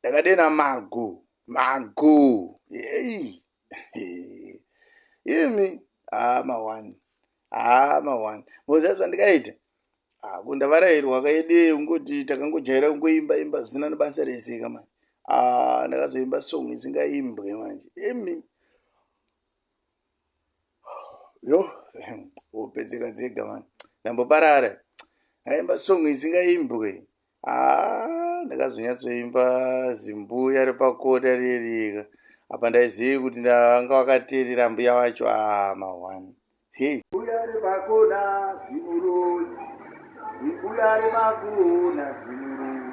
ndakadena magu magu hey. imi haa mawani haa mawani moziva zvandikaita ako ndavarairwa kaidee ungoti takangojaira kungoimba imba zvisina nebasa rese ka manje aa ndakazoimba song isingaimbwe manje imi yo hope dzega dzega mani ndamboparara aimba song isingaimbwe ah, ndakazonyatsoimba zimbuya repakota rierika apa ndaizivi kuti ndanga wakateerera mbuya wacho ama ah, one hey. mbuya repakona zimuroi zimbuya repakona zimuroi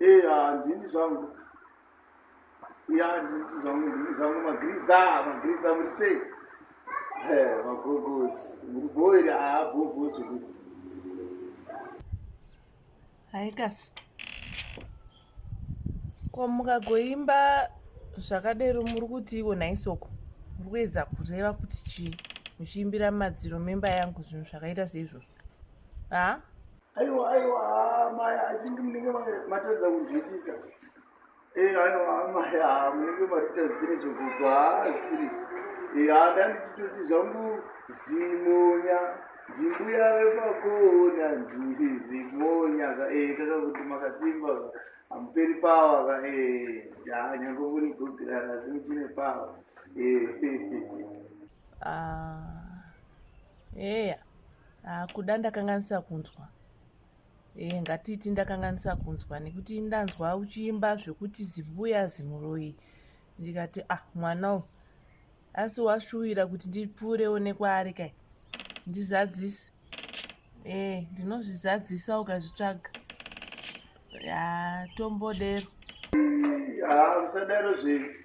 Eh, ah, ndini zvangu. Ya, ndini zvangu, ndini zvangu magriza, magriza muri sei? Eh, magogozi. Muri boira, ah, bobo zvekuti. Hai kasi. Ko mukagoimba zvakadero muri kuti iwo naisoko. Muri kuedza kureva kuti chii? Muchiimbira madziro memba yangu zvinhu zvakaita seizvozvo. Ah? Aiwa aiwa ah, maya I think munenge matadza kunzwisisa. Eh aiwa ah, maya ah, munenge matita ziri zvokugwa hazvisiri. Eh hada ndititoti zvangu zimonya ndimbuya vepakona ndiri zimonya ka eh kaka kuti makasimba amuperi pawa ka eh ja nyange kuri gogirana asi muchine pawa. Eh. Ah. Yeah. Ah, kuda ndakanganisa kunzwa e, ngatiiti ndakanganisa kunzwa nekuti ndanzwa uchiimba zvekuti zimbuya zimuroyi ndikati ah mwana u asi washuwira kuti ndipfuurewo nekwaari kai ndizadzise e ndinozvizadzisa ukazvitsvaga ya tombodero ah, musadaro zvinhu